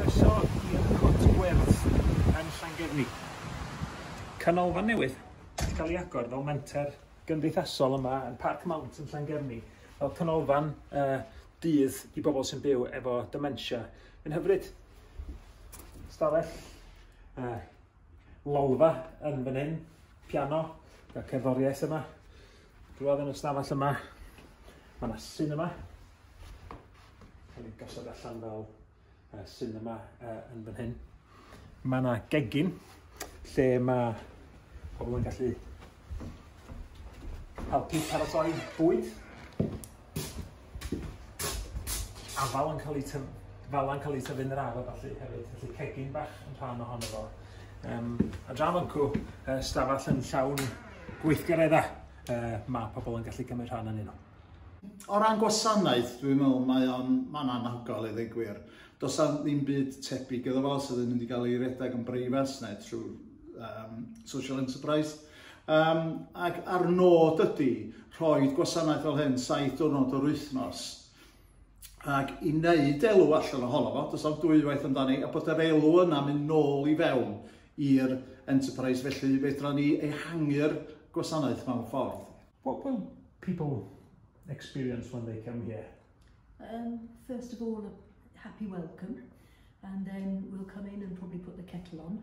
Croeso i'r Nghwt Werdd yn Llangefni. Canolfan newydd sy'n cael ei agor fel menter gymdeithasol yma yn Parc Mount yn Llangefni, fel canolfan dydd i bobl sy'n byw efo dementia. Mae'n hyfryd. Stafell, lolfa yn fan hyn, piano, y cerddoriaeth yma. Drwodd yn y stafell yma, mae yna cinema. Mae ni'n gosod allan fel uh, cinema uh, yn fan hyn. Mae yna gegin lle mae pobl yn gallu helpu paratoi bwyd. afal yn cael ei tyf- fala'n cael ei tyfu yn yr ardd felly hefyd, felly cegin bach yn rhan ohono fo. Um, a dra mancw, uh, stafell yn llawn gweithgareddau uh, mae pobl yn gallu cymryd rhan yn nhw. O ran gwasanaeth, dwi'n meddwl mae o'n man anhygol i ddweud gwir. Does am ddim byd tebyg iddo fo sydd yn mynd i gael ei redeg yn breifas neu trwy um, social enterprise. Um, ac ar nod ydy rhoi gwasanaeth fel hyn saith diwrnod yr wythnos ac i wneud elw allan ohono fo, does am dwywaith amdani, a bod yr elw yna mynd nôl i fewn i'r enterprise, felly fedra ni ehangu'r gwasanaeth mewn ffordd. What will people experience when they come here? Um, first of all, a happy welcome, and then we'll come in and probably put the kettle on.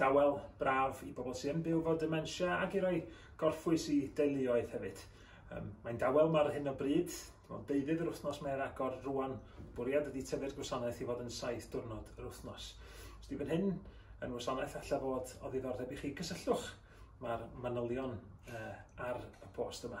Dawel, braf i bobl sy'n byw fod dementia ac i roi gorffwys i deuluoedd hefyd. Um, mae'n dawel mae'r hyn o bryd, mae'n deudydd yr wythnos mae'r agor rwan, bwriad ydy tyfu'r gwasanaeth i fod yn saith diwrnod yr wythnos. Os di fan hyn yn wasanaeth allai fod o ddiddordeb i chi, gysylltwch mae'r manylion uh, ar y post yma.